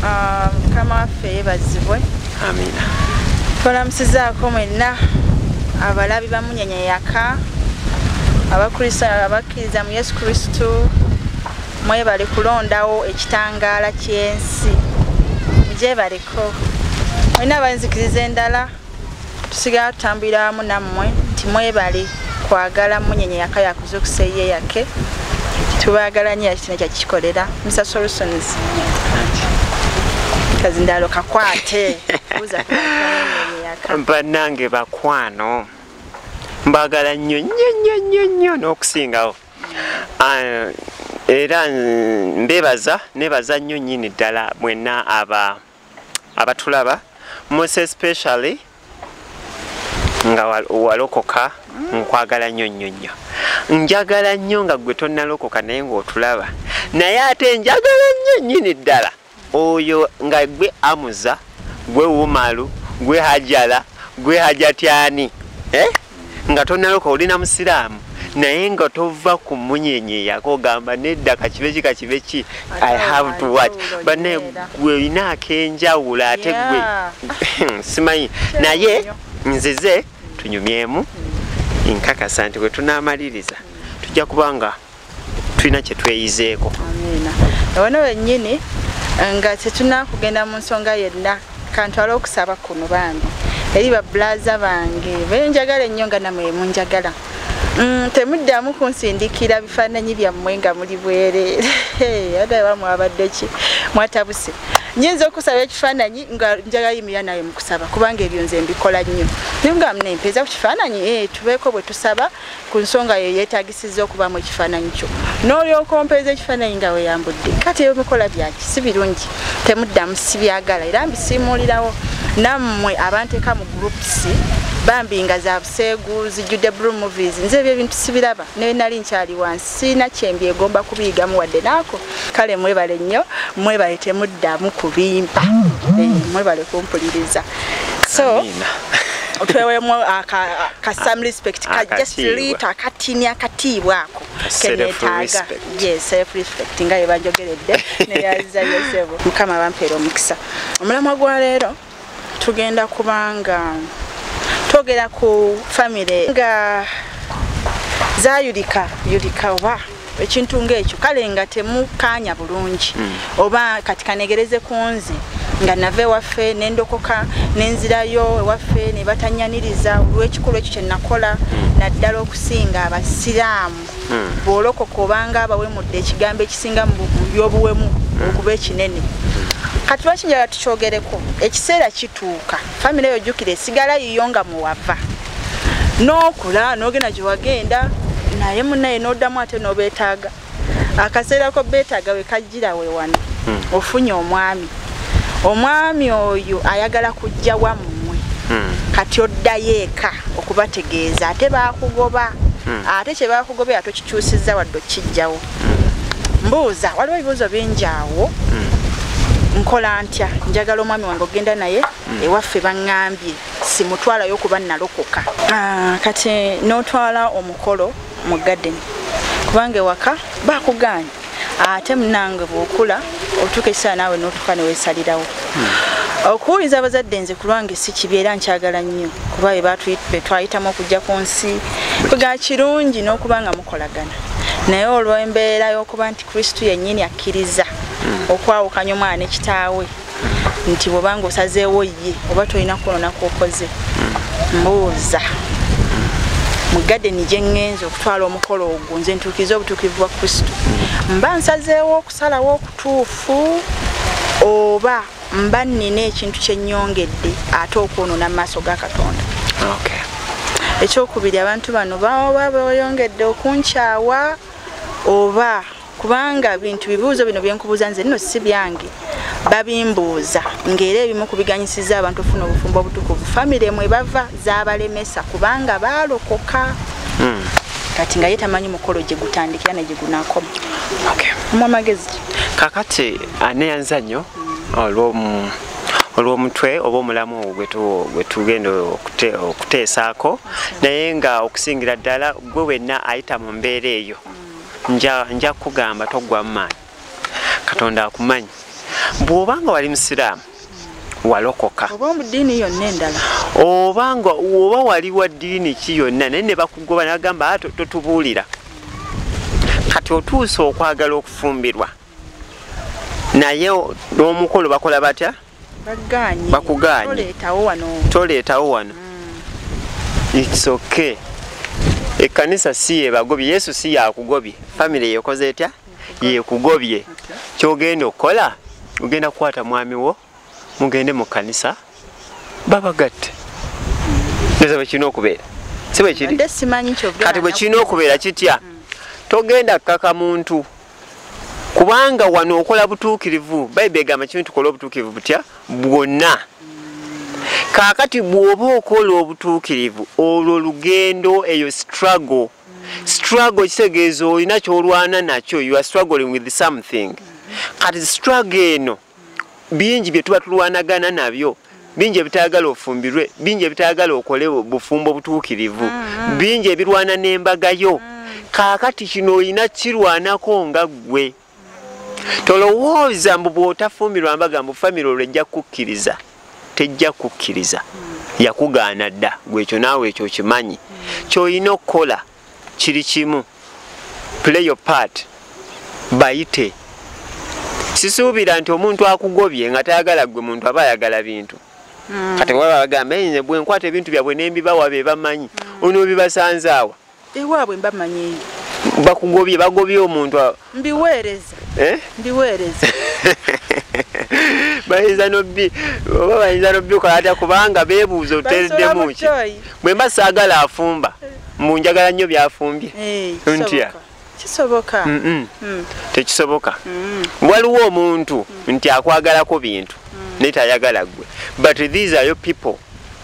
ah, mukama waffe yebazibwe amina tulamusizaako mwenna abalabi bamunyenya yaka abakristaayo abakkiriza mu yesu kristu mwebale kulondawo ekitangaala ky'ensi mugyebale olina abayinzikiriza endala tusigala tutambulira wamu nammwe nti mwebale kwagala munyenye yaka yakuzukusa eye yake tubagala nyo yakitino kyakikikolera mr solutions kazindalo kakwate banange bakwano mbagala nnyo nnyo nnyo nnyo nnyo n'okusingawo Ah, era mbebaza nebaza nnyo nyini ddala mwenna aba abatulaba mose specially nga walokoka nkwagala nnyo nnyo nnyo njagala nnyo nga gwe tonnalokoka naye ng'otulaba naye ate njagala nnyo nyini ddala oyo nga gwe amuza gwe wumalu gwe hajala gwe hajatyani eh? nga tonaloka oli na musiraamu naye nga tova ku munyenye yako ogamba nedda kakibe ki kakibe ki i have to watch bane gwe olina akenjawulo ate gwe simanyi naye nzize tunyumyemu nkakasa nti wetunamaliriza tujja kubanga tulina kyetweyizeeko amiina ono wenyini eh, nga tetunakugenda mu nsonga yenna kantwala okusaba kuno bambi eri babulaza bange benjagala ennyo nga namwe munjagala mm, temuddamu kunsindikira bifaananyi byammwe nga muli bwereere adawa mwabadde ki mwatabuse nyinza okusaba ekifaananyi nga njagala yimira naye mukusaba kubanga ebyo nze mbikola nnyo naye nga mnempeeza ku kifaananyi eh, tubeeko bwe tusaba ku nsonga yo yeetagisizza okuba mu ekifaananyi kyo n'olyoka ompeeza ekifaananyi nga weyambudde kati ebimikola byaki si birungi temuddamu sibyagala era mbisiimuulirawo nammwe abanteeka mu groups bambi nga za buseegu zijjudde blue movies nze ebyo ebintu sibiraba naye nali nkyali wansi sirina kyembyegomba kubiyigamu wadde naako kale mwebale nnyo mwebale temuddamu kubimpa eh, mwebale kumpuliriza so twewemu ka some respect ka just lita katini akatiibwa ako kenetaaga ye self respect nga yebanjogeredde neyaza yosebo mukama bampeera omukisa omulamwa gwa leero tugenda kubanga togera ku famire nga zayulika yulika oba ekintu ngaekyo kale nga temukaanya bulungi hmm. oba kati kanegereze ku nze nga nava ewaffe nendokoka nenzirayo ewaffe nebatanyaniriza olwekikulu ekyo kyenakola hmm. naddala okusinga abasiraamu hmm. bwolokoka obanga abawemudde ekigambo ekisinga mu by'obuwemu hmm. okuba ekinene kati lwaki njala tukyogereko ekiseera kituuka famiry eyo jjukira esigala yiyo nga muwava n'okula n'ogenda gye wagenda naye munaye n'oddamu ate n'obeetaaga akaseera ko beetaaga we kajjira we wano hmm. ofunye omwami omwami oyo ayagala kujja wammwe hmm. kati oddayo eka okubategeeza ate bakugoba hmm. ate kyebakugobera tokikyusiza wadde okukijjawo hmm. mbuuza waliwo ebibuuzo bingi awo nkola ntya njagala omwami wange ogenda naye hmm. ewaffe baŋŋambye simutwalayo kuba nalokoka ah, kati n'otwala omukolo mu gadeni kubanga ewaka bakugaanya ate munange bwokula otuuka ekisaa naawe notuuka newesalirawo hmm. okuwuliza abazadde nze kulwange si kibi era nkyagala nnyo kuba betwayitamu okujja ku nsi ga kirungi n'okuba nga mukolagana naye olw'embeera y'okuba nti kristu yennyini akkiriza hmm. okwawukanya omwana ne kitaawe nti bwobanga osazeewo ye oba tolina kwonona kwokoze mbuuza mu gadeni gye ŋŋenza okutwala omukolo ogwo nze ntuukiriza obutuukirivu bwa kristo mba nsazeewo okusalawo okutuufu oba mba nnina ekintu kye nnyongedde ate okwonoona mu maaso ga katonda ekyokubiri abantu bano baba boyongedde okunkyawa oba kubanga bintu bibuuzo bino byenkubuuza nze nno si byange babimbuuza ng'era ebimu ku biganyisiza abantu ofuna obufumbo obutukuvu famire mwe bava zabalemesa kubanga baalokoka hmm. kati nga ye tamanyi mukolo gye gutandikira ne gye gunakoma omu amagezi ki kakati aneyanza nnyo olw'omutwe oba omulamu gwe tugenda okuteesaako naye nga okusingira ddala gwe wenna ayita mu mbeera eyo nja kugamba toggwamu maanyi katonda akumanyi bw'oba nga wali musiraamu walokoka oba nga oba wali wa ddiini ki yonna naye ne bakugoba nagamba ah, totubuulira kati otuusa okwagala okufumbirwa naye n'omukolo bakola batya bakugaanye toleetawo wano mm. its okay ekkanisa si yebagobye yesu si yakugobye famire yekoze etya yekugobye kyogenda okukola ogenda kukwata mwami wo mugende mu kkanisa babagatte neza bwekirina okubeera si bwekiri kati bwekirina okubeera kitya mm. togenda kukaka muntu kubanga wano okola butuukirivu bayibuli egamba kimu tukola obutuukirivu butya bwonna kaakati bw'oba okola obutuukirivu olwo lugendo eyo struggle struggle kitegeeza olina kyolwana nakyo you are struggling with something kati struggle eno bingi bye tuba tulwanagana nabyo bingi ebitayagala ofumbirwe bingi ebitayagala okole bufumbo butuukirivu mm, mm. bingi ebirwana n'embaga yo mm. kaakati kino olina kirwanako nga ggwe tolowooza mbu bw'otafumbirwa mbaga mbu famire olwo ejja kukukkiriza tejja kukukkiriza yakugaana dda gwekyo naawe ekyo okimanyi kyolina okukola kiri kimu play your part bayite sisuubira nti omuntu akugobye nga tayagala gwe muntu aba ayagala bintu hmm. kati waba bagamba nze bwenkwata ebintu byabwe nembibawa be bamanyi hmm. onoobibasanzaawa ewaabwe mbamanyiyo bakugobye bagobye omuntu mbiweereza eh? mbiweereza bayinza nobbi oba bayinza nobbi okola atya kubanga beebuuza oteeddemu ki bwe mba saagala afumba mbu njagala nnyo byafumbye eh, ntya kisoboka mm. tekisoboka mm. waliwo omuntu mm. nti akwagalako bintu naye tayagala gwe but these are your people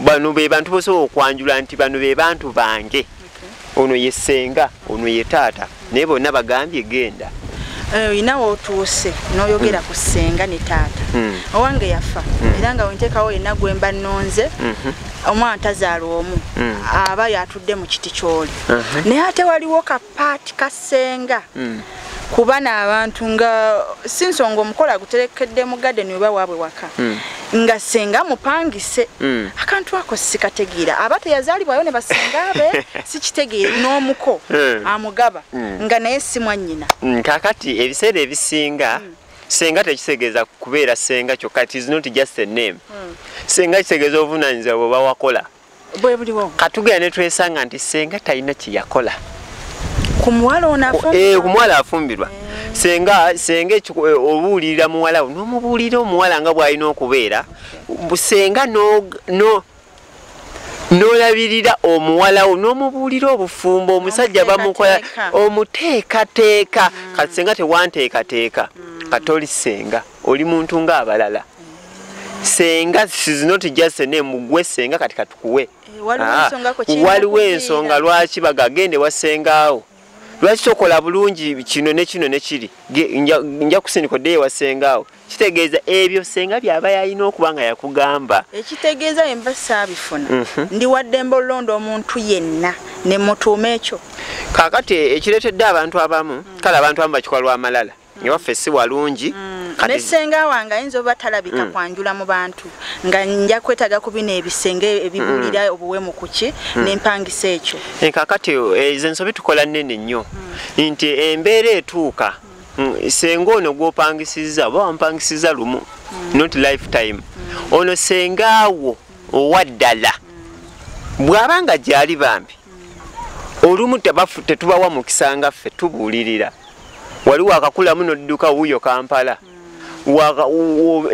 bano be bantu bosobola okwanjula nti bano be bantu bange ono ye senga ono ye taata naye bonna bagambye genda eh, olina wotuuse noyogera ku senga ne taata hmm. owange yafa hmm. era nga wentekawo yena gwemba nonze mhm. omwana tazaala omu hmm. aba yatudde mu kiti kyoli naye ate waliwo kapaati kasenga kuba n'abantu nga si nsonga omukolo aguterekedde mu gadeni oba waabwe waka hmm. nga senga mupangise hmm. akantu ako sikategeera aba teyazaalibwayo ne basenga be sikitegeere n'omuko hmm. amugaba nga naye si mwannyina kakati ebiseera ebisinga senga tekitegeeza kubeera senga kyokka it is not just a name senga kitegeeza obuvunanyizibwa bwe bawakola bwebuliwo katugera netwesanga nti senga talina kyeyakola kumuwala eh, afumbirwa eh. senga senga eh, obuulirira muwalawo nomubuulira omuwala nga bwalina okubeera senga nolabirira omuwalawo nomubuulira obufumbo omusajja bamukola omuteekateeka mm. kati senga tewanteekateeka mm. katoli senga oli muntu nga abalala senga is not just a name gwe senga kati katukuwe eh, waliwo ah, ensonga lwaki bagagende wasengaawo lwaki tokola bulungi kino nekino nekiri nja kusindika oddeyo wasengaawo kitegeeza ebyo senga byaba yalina okuba nga yakugamba ekitegeeza yemba saabifuna mhm. ndi waddembe olulonda omuntu yenna nemutuuma ekyo kakati ekireetedde abantu abamu kale abantu abamu bakikola lwamalala ne waffe si walungi mm. ne senga wange ayinza oba talabika mm. kwanjula mu bantu nga nja kwetaga ku bino ebisenge ebibulira mm. obuwemu kuki mm. nempangisa ekyo eh, kakati eh, ezo ensobi tukola nene nnyo mm. nti embeera etuuka mm. mm, senga ono gwopangisiza oba wampangisiza lumu mm. not lifetime mm. ono sengaawo owaddala mm. bw'aba nga gyali bambi olumu tetubawa mukisa nga ffe tubuulirira wali wakakulamu nodduka wuyo kampala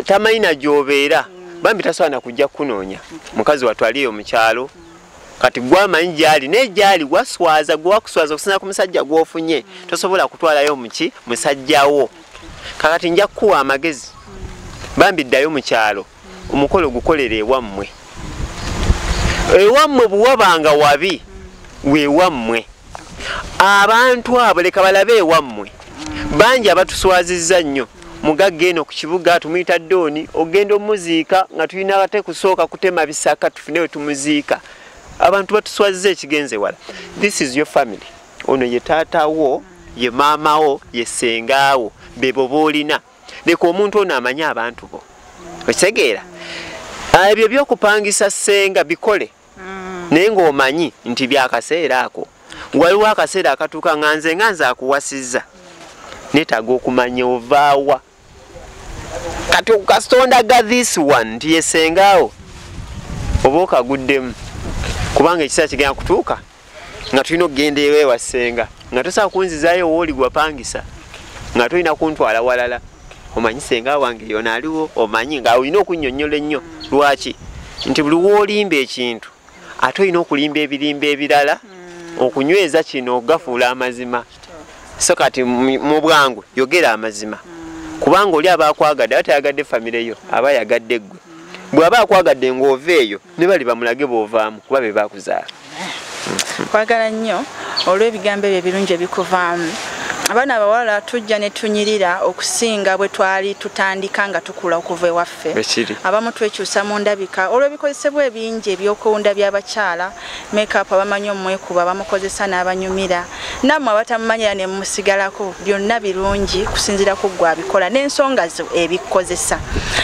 tamanyi na gyobeera bambi tasobola nakujja kukunoonya mukazi watwaliyo mu kyalo kati gwamanyi gyali naye gyali gwaswaza gwewakuswaza okusinza ku musajja gwofunye tosobola kutwalayo muki musajjawo kakati nja kukuwa amagezi bambi ddayo mu kyalo omukolo gukolere ewammwe ewammwe buwabanga wabi wewammwe abantu abo leka balabe ewammwe bangi abatuswazizza nnyo mugagga eno ku kibuga tumuyita dooni ogenda omuziika nga tulina ate kusooka kutema bisaka tufune we tumuziika abantu batuswazizza ekigenze wala this is your family ono ye taatawo ye maamawo ye sengaawo bebo boolina leka omuntu ono amanye abantu bo okitegeera ah, ebyo byokupangisa senga bikole mm. naye ngaomanyi nti byakaseera ako waliwo akaseera akatuuka nga nze nga nze akuwasizza netaga okumanya ovaawa kati okukasitondaga this one nti yesengaawo oba okaguddemu kubanga ekiseera kigenda kutuuka nga tulina okugenda ewewa senga nga tosaa kunzizayo wooli gwapangisa nga tolina kuntwala walala omanyi senga wange yona aliwo omanyi nga olina okunyonyola ennyo lwaki nti buli wolimba ekintu ate olina okulimba ebirimba ebirala mm. okunyweza kino okugafuula amazima so kati mu bwangu yogera amazima mm. kubanga oli aba akwagadde aba tayagadde famireyo aba yagadde ggwe mm. bw'aba akwagadde ng'ova eyo ne bali bamulage bw'ovaamu kuba be baakuzaala kwagala nnyo olw'ebigambo ebyo ebirungi ebikuvaamu abaana abawala tujja ne tunyirira okusinga bwe twali tutandika nga tukula okuva ewaffe abamu twekyusa mu ndabika olw'ebikozesebwa ebingi ebyokuwunda by'abakyala makeup abamanyi omwekuba bamukozesa n'abanyumira namwe abatamumanyira ne musigalako byonna birungi kusinzira ku gwe abikola n'ensonga zo ebikozesa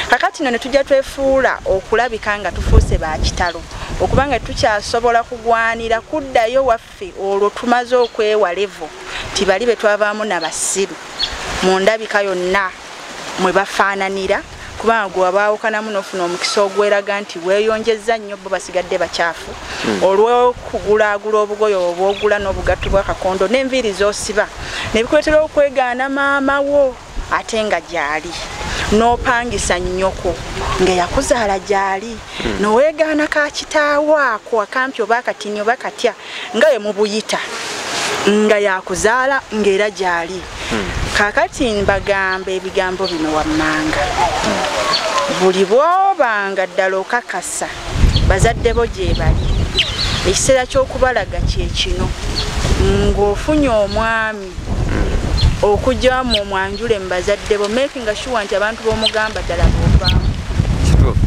kakati no ne tujja twefuula okulabika nga tufuuse ba kitalo okuba nga tukyasobola kugwanira kuddayo waffe olwo tumaze okwewalevo nti bali be twavaamu na basiru mu ndabika yonna mwe bafaananira kubanga gwe wabaawukanamu n'ofuna omukisa ogweraga nti weeyonjezza nnyo bo basigadde bakyafu hmm. olw'okugulaagula obugoyo obwogula n'obugatto bw'akakondo n'enviiri z'osiba nebikuleetera okwegaana maama wo ate nga gyali n'opangisa nnyoko ngaeyakuzaala gyali hmm. noweegaana ka kitaawo ako akampi oba akatini oba katya nga ye mubuyita nga yakuzaala ngaera gyali hmm. kakati mbagamba ebigambo bino wammanga hmm. buli bwobanga ddala okakasa bazadde bo gyebali ekiseera ky'okubalaga kyekino ng'ofunye omwami okujja mu mwanjule mubazadde bo making sure nti abantu bomugamba ddala bovaamu kituufu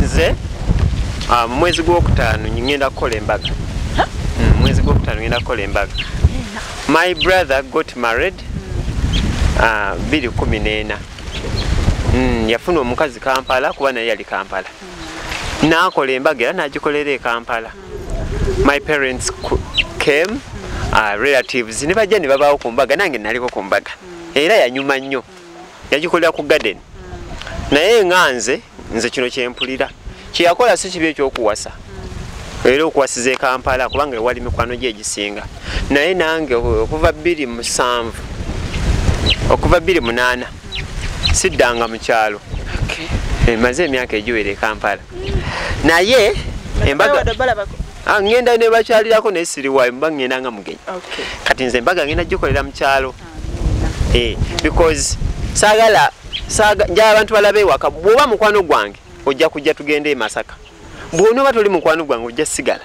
nze ah, mu mwezi gwokutaano ngenda kukola embaga mm, mwezi gwokutaano ngenda kukola embaga my brother got married ah, biri kumi neena mm, yafuna omukazi kampala kuba naye yali kampala naakola embaga era nagikolera ekampala my parents came uh, relatives ne bajja ne babaawo ku mbaga nange naliko ku mbaga era yanyuma nnyo yagikolera ku garden naye nga nze nze kino kyempulira kyeyakola si kibi ekyokuwasa era okuwasiza e kampala kubanga ewali mikwano gye egisinga naye nange okuva bbiri musanvu okuva bbiri munaana siddanga mu kyalo emaze emyaka egiwera e kampala naye embaga ah, ngenda nebakyalirako naye siriwayo mba ngenda nga mugenyi kati nze embaga ngenda gikolera mukyalo ah, eh, because sagala njala abantu balabe ewaka bwoba mukwano gwange ojja kujja tugende emasaka bwonoba toli mukwano gwange ojja sigala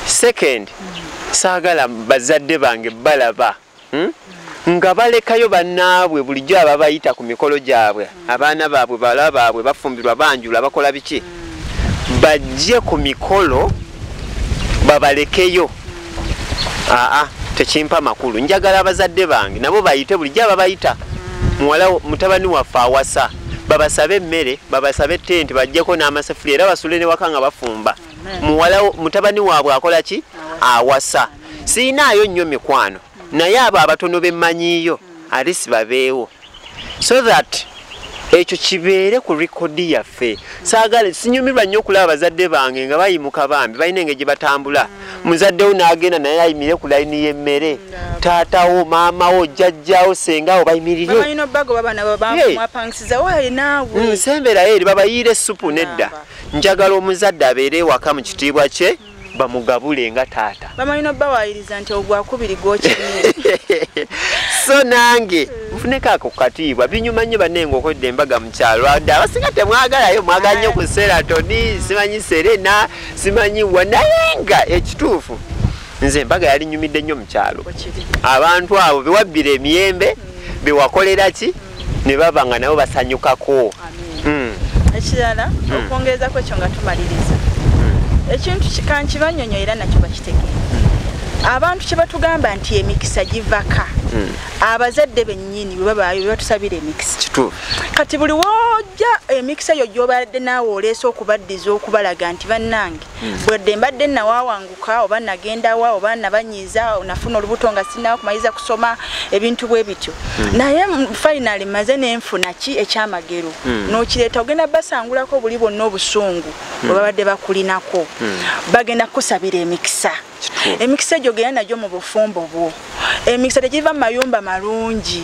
second mm. saagala bazadde bange balaba hmm? nga balekayo bannaabwe bulijjo ababayita ku mikolo gyabwe abaana baabwe bala baabwe bafumbirwa banjula bakola biki bajje ku mikolo babalekeyo aa tekimpa makulu njagala abazadde bange nabo bayite bulijjo ababayita muwala mutabani waffe awasa babasabe emmere babasabe tenti bajjeko n'amasefuli era basule ne waka nga bafumba muwala mutabani waabwe akola ki awasa siinaayo nnyo mikwano naye abo abatono bemmanyiiyo alisi babeewo so that ekyo kibeere ku rekodi yaffe saagala sinyumirwa nnyo okulaba bazadde bange nga bayimuka bambi balina engeri gye batambula muzaddewo n'agenda naye ayimire ku layini y'emmere taatawo maamawo jjajjawo sengawo bayimirirensemberayo eri babayiire essupu nedda njagala omuzadde abeere ewaka mu kitiibwa kye bamugabule nga taata bamanyi nobawayiriza nti ogwakubiri gwokimye so nange nfuneko ako kukatiibwa binyuma nnyo banne ngaokodde embaga mu kyalo adde abasinga temwagalayo mwagala nnyo ku seratoni simanyi serena simanyi wa naye nga ekituufu nze embaga yali nyumidde nnyo mu kyalo abantu abo bewabbira emiyembe bewakolera ki ne baba nga nabo basanyukako hmm. ekirala hmm. okwongerezako ekyo nga tumaliriza hmm. ekintu kankibanyonyo era nakyo bakitegeera abantu kyebatugamba nti emikisa givaka hmm. abazadde benyini bwebabayo bebatusabira emikisa kati buli woja emikisa eyo gyobadde naawe oleese okubaddiza okubalaga nti bannange hmm. bwedde mbadde nawawangu nabuka oba nagenda wa oba nabanyiiza nafuna olubuto nga sinawo kumaliriza kusoma ebintu bwe bityo hmm. naye finally maze nenfuna ki ekyamagero hmm. nokireeta ogenda basangulako buli bwonna obusungu hmm. bwebabadde bakulinako bagenda kukusabira emikisa emikisa egyo genda nagyo mu bufumbo bwo emikisa tegiva mu mayumba malungi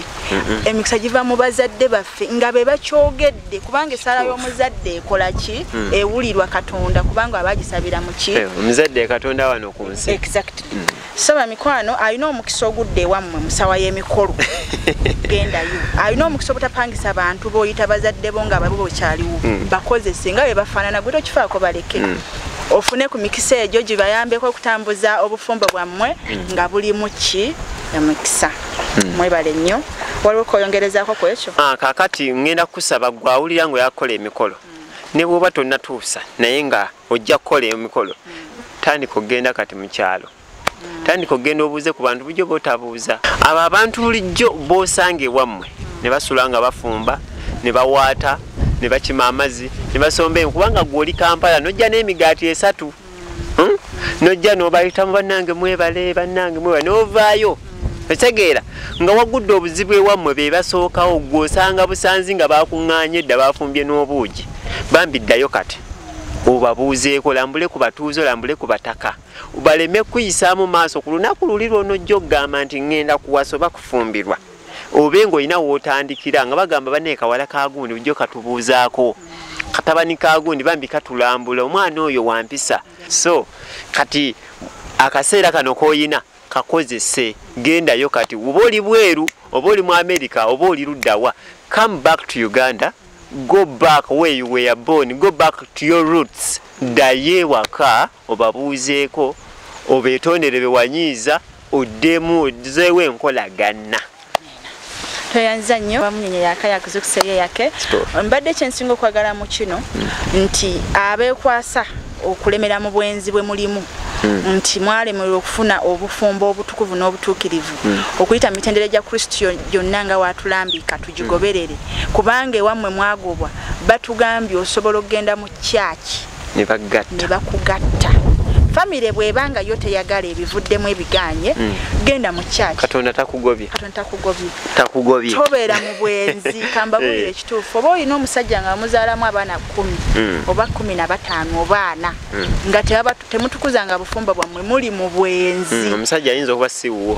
emikisa giva mu bazadde baffe nga be bakyogedde kubanga esaala y'omuzadde ekola ki mm. ewulirwa katonda kubanga aba agisabira muki eh, omuzadde katonda wano ku nsi exactly mm. so bamikwano alina omukisa ogudde ewammwe musawa y'emikolo gendayo alina omukisa obutapangisa bantu boyita bazadde bo nga babo bokyaliwo mm. bakozese nga bebafaanana gwe tokifaako baleke mm. ofune ku mikisa egyo gibayambeko okutambuza obufumbo bwammwe mm. nga bulimu ki emikisa mm. mwebale nnyo waliwo koyongerezako ku ekyo ah, kakati ŋŋenda kusaba gwe awulira nga oyakukola emikolo mm. ne bwoba tonnatuusa naye nga ojja kukola emikolo tandika okugenda kati mu kyalo tandika okugenda obuuze ku bantu bulijjo botabuuza abo abantu bulijjo bosanga ewammwe ne basula nga bafumba ne bawaata ne bakima amazzi ne basomba enku kubanga gwoli kampala nojja n'emigaati esatu hmm? nojja nobayitamu bannange mwebale bannange mwebale novaayo otegeera nga wagudde obuzibu ewammwe be basookawo gwe osanga busanzi nga bakuŋŋaanye edda bafumbye n'obuugi bambi ddayo kati obabuuzeeko lambule ku batuuze olambule ku bataka baleme kuyisaamu maaso ku lunaku luli lwonojja okugamba nti ŋŋenda kuwasa oba kufumbirwa obe ng'olina wootandikira nga bagamba baneekawala kagundi ujjo katubuuzaako katabani kagundi bambi katulambula omwana oyo wampisa so kati akaseera kano k'olina kakozese gendayo kati oba oli bweru oba oli mu america oba oli luddawa come back to uganda go back where you were born go back to your roots ddayo ewaka obabuuzeeko obeetondere bewanyiiza oddemu ozeewo enkolagana tweyanziza nnyo bamunyenye yaka yakuzukusa eyo yake mbadde kyensinga okwagala mu kino nti abeekwasa okulemera mu bwenzi bwe mulimu hmm. nti mwalemerwa okufuna obufumbo obutukuvu n'obutuukirivu hmm. okuyita mu mitendera gya kristo gyonna nga watulambika tugigoberere hmm. kubanga ewammwe mwagobwa batugambye osobola okugenda mu kyaki ne bakugatta famire bweba nga yo teyagala ebivuddemu ebiganye hmm. genda mu church katonda takugobye katonda takugobye takugobye tobeera mu bwenzi kambabulire eh. ekituufu oba olina omusajja nga muzaalamu abaana kumi hmm. oba kumi na bataano obaana hmm. nga temutukuza nga bufumba bwammwe muli mu bwenzi omusajja ayinza okuba siwuwo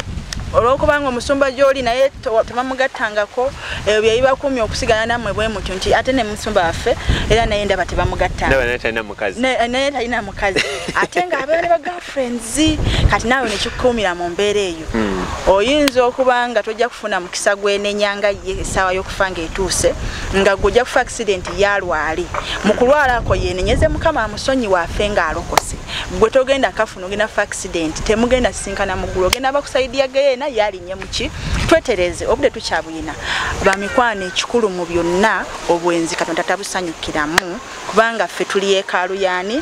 olwokubanga omusumba gyoli naye tebamugattangako ebyo bye bibakumya okusigala nammwe bwe mutyo nti ate ne musumba waffe era naye ndaba tebamugattanaye talina mukazi ate nga abeera ne bagirlfriends kati naawe nekikukuumira mu mbeera eyo hmm. oyinza okuba nga tojja kufuna mukisa gwenenyanga ye essaawa y'okufa ng'etuuse nga gwe ojja kufa accident yalwali mu kulwalako yenenyeze mukama amusonyi waafe ng'alokose gwe togenda kafuna ogenda fa accident temugenda sisinkana muggulu ogenda bakusaidiya geyeena yali nyemuki twetereze obude tukyabuyina bamikwano ekikulu mu byonna obwenzi katonda tabusanyukiramu kubanga ffe tuli yekaalu yani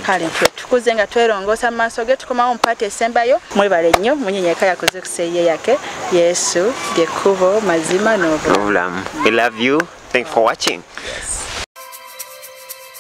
kale ffe tukuze nga twerongoosa mu maaso ge tukomawo mupaati esembayo mwebale nnyo munyenyeka yakoze kuseiye yake yesu lyekkubo mazima n'obulamu